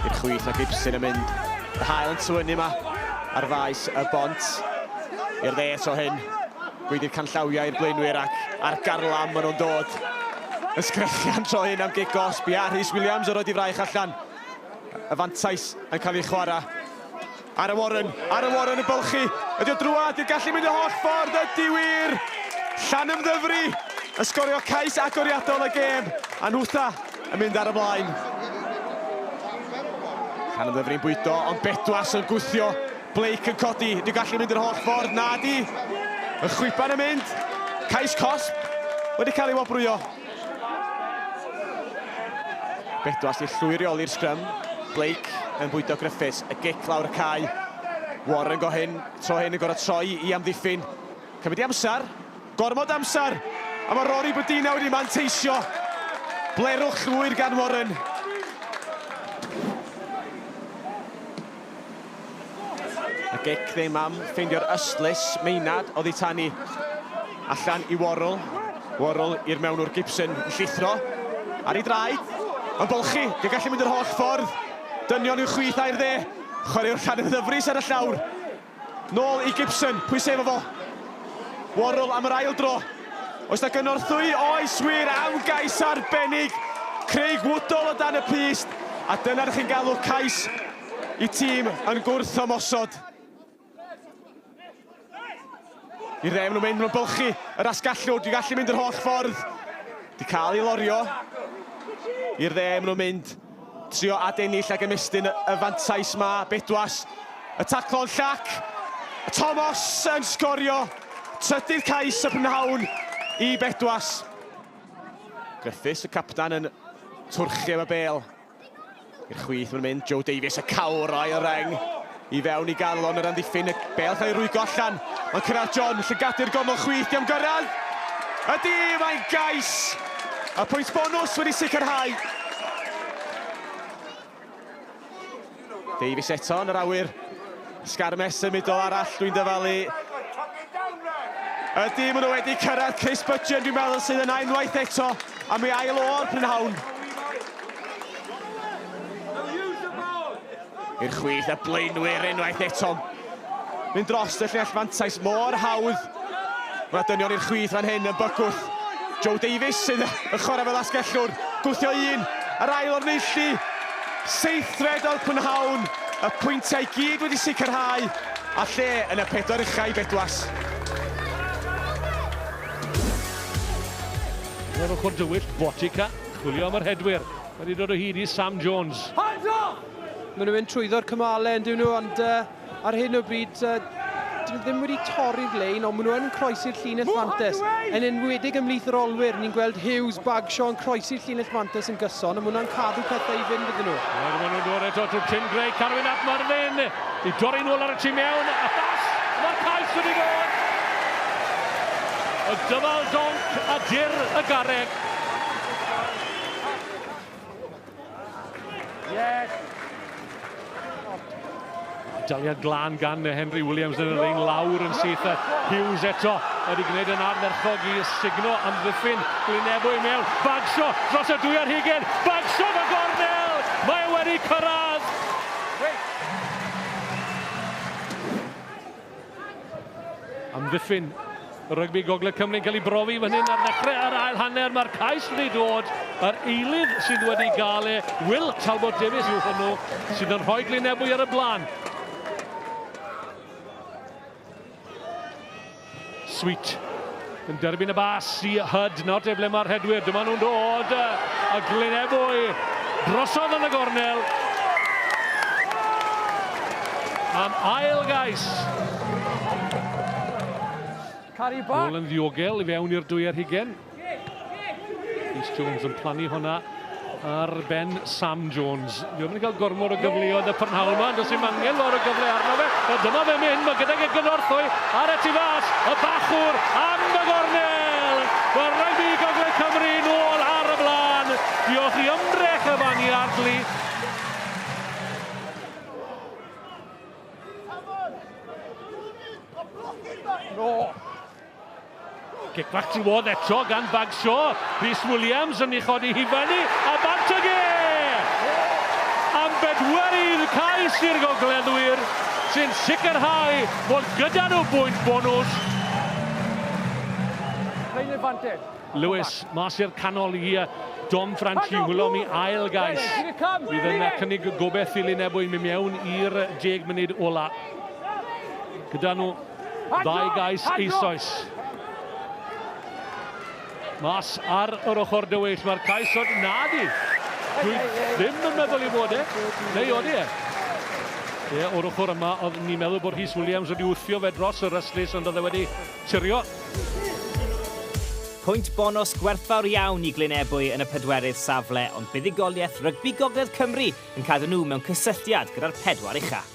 I'r chwith a Gibson yn mynd. Y hael yn tywynnu yma ar faes y bont. I'r dde eto hyn. Gweidir canllawiau i'r blaenwyr ac ar garlam maen nhw'n dod. Yn sgrechian tro hyn am gig gosb. Ia, Rhys Williams o roed i fraich allan. Y fantais yn cael ei chwarae. Ara Warren, Ara Warren yn bylchu. Ydy o drwad, i'r gallu mynd y holl ffordd, ydy wir! Llanymddyfri yn sgorio cais agoriadol y gêm, a Nhwtha yn mynd ar y blaen. Llanymddyfri'n bwydo, ond Bedwas yn gwthio. Blake yn codi, ydy o gallu mynd yr holl ffordd, na di! Y chwiban yn mynd, cais cosb wedi cael ei wobrwyo. Bedwas i llwyrioli'r sgrym. Blake yn bwydo Griffiths. Y gic lawr y cae. Warren go hyn, tro hyn yn gorau troi i amddiffyn. Cymryd i amser. Gormod amser. A mae Rory Bodina wedi manteisio. Blerwch llwyr gan Warren. A gic ddim am ffeindio'r ystlys. Maynard oddi tan i allan i Worrell. Worrell i'r mewn o'r Gibson yn llithro. Ar ei draed. Yn bolchi. Di gallu mynd yr holl ffordd. Dynion yw chwith air dde. Chwaraewr llan yn ddyfrus ar y llawr. Nôl i Gibson, pwy sy efo fo? Worrall am yr ail dro. Oes na gynorthwy? Oes wir am gais arbennig. Craig Woodall o dan y pyst. A dyna'r chi'n galw cais i tîm yn gwrth ymosod. I re, maen nhw'n mynd, maen nhw'n bylchu yr asgallwr, dwi'n gallu mynd yr holl ffordd. Di cael ei lorio. I'r dde, maen nhw'n mynd. Trio adennill ac ymestyn y fantais ma Bedwas. Y taclo'n llac. Tomos yn sgorio. Trydydd cais y pnawn i Bedwas. Griffiths, y captan, yn twrchu am y bel. I'r chwith mae'n mynd, Joe Davies y cawr o'i reng. I fewn i galon yr amddiffyn, y bêl cael ei rwygo allan. Mae'n cyrraedd John, llygadu'r gornel chwith, diam gyrraedd. Ydy, mae'n gais! A pwynt bonus wedi sicrhau. Davies eto yn yr awyr. Sgarmes symudol arall, dwi'n dyfalu. Ydy, maen nhw wedi cyrraedd Chris Budgeon, dwi'n meddwl sydd yna unwaith eto, a mi ail o'r prynhawn. I'r chwith a blaenwyr unwaith eto. Mynd dros y llinell fantais mor hawdd. Mae dynion i'r chwith fan hyn yn bygwth. Joe Davies sydd yn chwarae fel asgellwr. Gwthio un, yr ail o'r neilli. Seithfed oedd prynhawn, y pwyntiau i gyd wedi sicrhau, a lle yn y pedwar uchau bedwas. Yr ochr dywyll, Botica, chwilio am yr hedwyr. Mae wedi dod o hyd i Sam Jones. Maen nhw'n mynd trwyddo'r cymalau yn dyn nhw, ond uh, ar hyn o bryd, uh, dyn nhw ddim wedi torri'r lein, ond maen nhw yn croesi'r llinell fantes. Yn enwedig ymlith yr olwyr, ni'n gweld Hughes, Bagshaw yn croesi'r llinell fantes yn gyson, ond maen nhw'n cadw pethau i fynd iddyn nhw. Maen nhw'n dod eto trwy Tim Gray, Carwyn at Marfin, i dorri nôl ar y tu mewn, a thas, mae'r cais wedi dod. Y dyfal donc a dir y garreg. Daliad glan gan Henry Williams yn yr ein lawr yn syth. Hughes eto wedi gwneud yn ardderchog i sugno amddiffyn Glynebo i mewn. Bagsio dros y dwy ar hugen. Bagsio fy gornel! Mae wedi cyrraedd! Wait. Amddiffyn rygbi Gogledd Cymru'n cael ei brofi fan hyn ar ddechrau yr ail hanner. Mae'r cais wedi dod. Yr eilydd sydd wedi gael e, Will Talbot Davies yw hwnnw, sydd yn rhoi Glyn Ebwy ar y blaen. Sweet yn derbyn y bas i Hud, nawr te ble mae'r rhedwyr, dyma nhw'n dod, a Glyn Ebwy drosodd yn y gornel. Am ail gais. Bol yn ddiogel i fewn i'r dwy ar hugen. Rhys Jones yn plannu hwnna ar ben Sam Jones. Dwi ddim yn cael gormod o gyfleoedd y prynhawn yma, ond os yw'n angen lor o gyfle arno fe, a dyma fe mynd, mae gydag y gynorthwy ar y tu fas, y bachwr am y gornel! Mae rygbi Gogledd Cymru nôl ar y blaen. Diolch i ymdrech y fan i Ardley. No. Kick back to Ward eto gan Bagshaw. Rhys Williams yn ei chodi hi fyny a Bartoge! Am bedwerydd cais i'r Gogleddwyr sy'n sicrhau bod gyda nhw bwynt bonws. Plain advantage. Lewis mas i'r canol i uh, Dom Franchi wylom i ail gais. Bydd yn uh, cynnig gobeith i Lunebwy mynd mewn i'r deg munud ola. Gyda nhw Ddau gais eisoes. Mas ar yr ochr dywyll, mae'r cais o'n nadi. Dwi ddim yn meddwl i fod e, neu oeddi e. Ie, o'r ochr yma, oedd ni'n meddwl bod Rhys Williams wedi wthio fe dros y rhyslis, ond oedd e wedi tirio. Pwynt bonws gwerthfawr iawn i Glyn Ebwy yn y pedwerydd safle, ond buddugoliaeth rygbi Gogledd Cymru yn cadw nhw mewn cysylltiad gyda'r pedwar ucha.